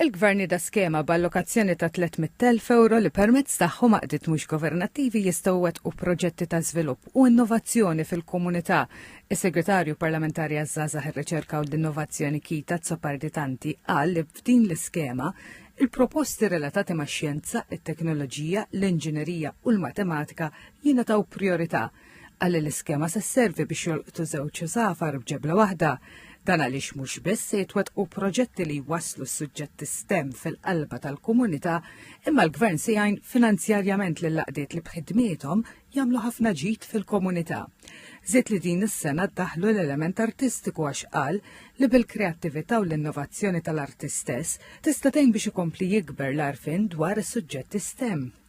Il-Gvern jeda skema b'allokazzjoni ta' 300,000 ewro li permezz tagħhom għaqdiet mhux governattivi jistgħu jwettqu proġetti ta' żvilupp u innovazzjoni fil-komunità. Is-Segretarju Parlamentari għaż-Żgħażagħ, ir-Riċerka u l-Innovazzjoni Kita Zopardi Tanti qal li f'din l-iskema, il-proposti relatati max-xjenza, it-teknoloġija, l-inġinerija u l-matematika jingħataw prijorità. Qal li l-iskema se sservi biex jolqtu żewġ żgħafar b'ġebla waħda dan għaliex mhux biss se jitwettqu proġetti li jwasslu s-suġġetti STEM fil-qalba tal-komunità, imma l-Gvern se jgħin finanzjarjament lil laqdiet li b'ħidmiethom jagħmlu ħafna ġid fil-komunità. Żied li din is-sena ddaħħlu l-element artistiku għax qal li bil-kreattività u l-innovazzjoni tal-arti stess tista' tgħin biex ikompli jikber l-għarfien dwar is-suġġetti STEM.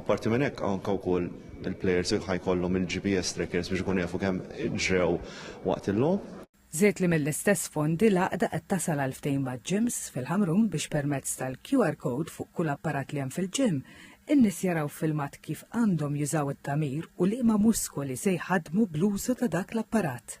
Apparti minn hekk anke wkoll il-plejers ħajkollhom il-GPS trackers biex ikunu jafu kemm ġrew waqt il-logħob. Żied li mill-istess fondi l-għaqda qed tasal għal ftehim maġ-gyms fil-Ħamrun biex permezz tal-QR code fuq kull apparat li hemm fil-gym, in-nies jaraw ffilmat kif għandhom jużaw it-tagħmir u liema muskoli se jħaddmu bl-użu ta' dak l-apparat.